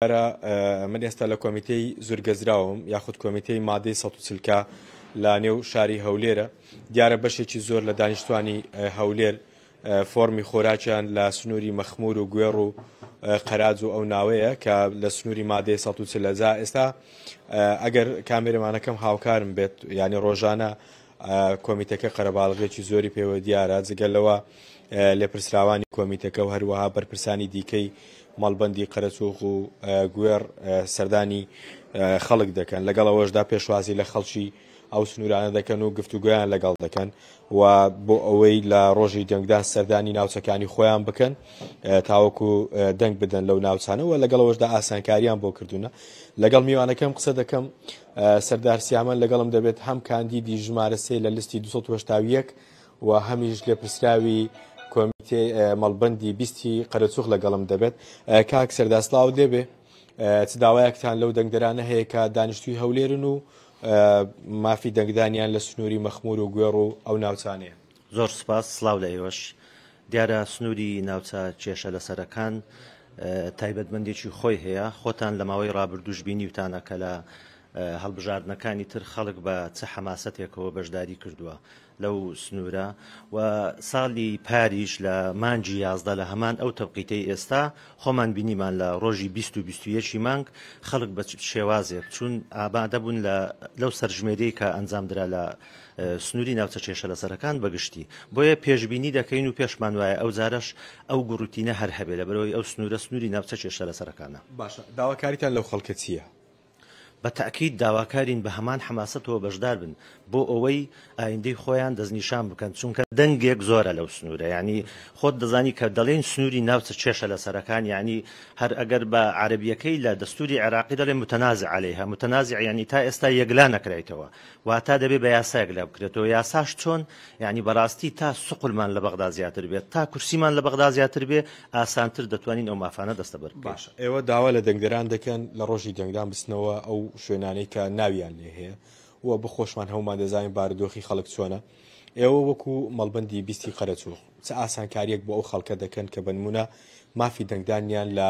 برا من ئێستا لە کۆمیتەی زورگەزراوم یاخود کۆمیتەی مادەی سە چلکە لە نێو شاری هەولێرە دیارە بەشێکی زۆر لە دانیشتوانی هەولێر فۆرمی خۆراکیان لە سنووری مەخمور و گوێڕ و قەراج و ئەو ناوەیە کە لە سنووری مادەی سە لەزا ئێستا ئەگەر کامێرەمانەکەم هاوکارم بێت ینی ڕۆژانە کۆمیتەکە قەرەباڵغیەکی زۆری پێوە دیارە جگە لەوە لێپرسراوانی کۆمیتەکە و هەروەها بەرپرسانی دیکەی مەڵبندی قەرەچوخ و گوێڕ سەردانی خەڵک دەکەن لەگەڵ ئەوەشدا پێشوازی لە خەڵکی ئەو سنوورانە دەکەن و گفتوگویان لەگەڵ دەکەن و بۆ ئەوەی لە ڕۆژی دەنگدان سەردانی ناوچەکانی خۆیان بکەن تاوەکو دەنگ بدەن لەو ناوچانەوە لەگەڵەوەشدا ئاسانکاریان بۆ کردوونە لەگەڵ میوانەکەم قسە دەکەم سەردار سیامەند لەگەڵم دەبێت هەم کاندیدی ژمارە سێ لە لستی 281 و هەمیش لێپرسراوی کۆمیتێ مەڵبندی بیستی قەرەچوخ لەگەڵم دەبێت کاک سەرداسلااو دەبێ چ داوایەکتان لەو دەنگدرانە هەیە کە دانیشتوی هەولێرن و مافی دەنگدانیان لە سنووری مەخمور و گوێڕ و ئەو ناوچانەیە زۆر سوپاس، سڵاو لە ئێوەش. دیارە سنووری ناوچە کێشە لەسەرەکان تایبەتمەندیی خۆی هەیە، خۆتان لە ماوەی ڕابردووش بینیوتانە کە لە هەڵبژاردنەکانی تر خەڵک بە چ حەماسەتێکەوە بەشداری کردووە لەو سنوورە و ساڵی پاریش لە مانگی یازدە لە هەمان ئەو تەوقیتەی ئێستا خۆمان بینیمان لە ڕۆژی بیست و بیست و یەکی مانگ خەڵک بە چ شێوازێک چوون ئامادە بوون لە لەو سەرژمێریی کە ئەنجام درا لە سنووری ناوچە کێشەلەسەرەکان بە گشتی، بۆیە پێشبینی دەکەین و پێشمان وایە ئەوجارەش ئەو گوڕوتینە هەر هەبێت، لەبەرئەوەی ئەو سنوورە سنووری ناوچە کێشەلەسەرەکانە. باشە داواکاریتان لەو خەڵکە چییە؟ بە تەئکید داواکارین بە هەمان حەماسەتەوە بەشدار بن بۆ ئەوەی ئایندەی خۆیان دەستنیشان بکەن، چونکە دەنگێک زۆرە لەو سنوورە، یانی خۆت دەزانی کە دەڵێین سنووری ناوچە کێشەلەسەرەکان یانی هەر ئەگەر بە عەرەبییەکەی لە دەستووری عێراقی دەڵێن متنازع علیها، متنازع یانی تا ئێستا یەکلا نەکرایتەوە، واتا دەبێ بە یاسایەک لا بکرێتەوە یاساش چۆن یعنی بەڕاستی تا سقلمان لە بەغدا زیاتر بێت تا کورسیمان لە بەغدا زیاتر بێ ئاسانتر دەتوانین ئەو مافانە دەستەبەر بکەین. باشە ئێوە داوا لە دەنگدەران دەکەن لە ڕۆژی دەنگدان بچنەوە ئەو شوێنانەی کە ناویان لێ هەیە و بخۆشمان هەموومان دەزانین بارودۆخی خەڵک چۆنە ئێوە وەکو مەڵبەندی بیستی قەرەچووغ چ ئاسانکارییەک بۆ ئەو خەڵکە دەکەن کە بە نموونە مافی دەنگدانیان لە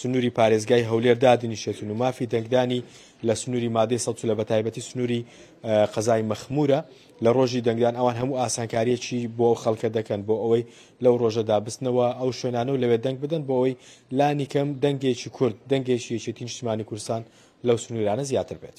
سنوری پارێزگای هەولێر دادنیشێتن و مافی دەنگدانی لە سنوری مادەی سە لە بەتایبەتی سنوری قەزای مەخمورە لە ڕۆژی دەنگدان ئەوان هەموو ئاسانکاریەکی بۆ خەڵکە دەکەن بۆ ئەوەی لەو ڕۆژەدا بستنەوە ئەو شوێنانە و لەوێ دەنگ بدەن بۆ ئەوەی لانی کەم دەنگێکی کورد دەنگێکی یەکێتی نیشتمانی کورسان لەو سنوورانە زیاتر بێت.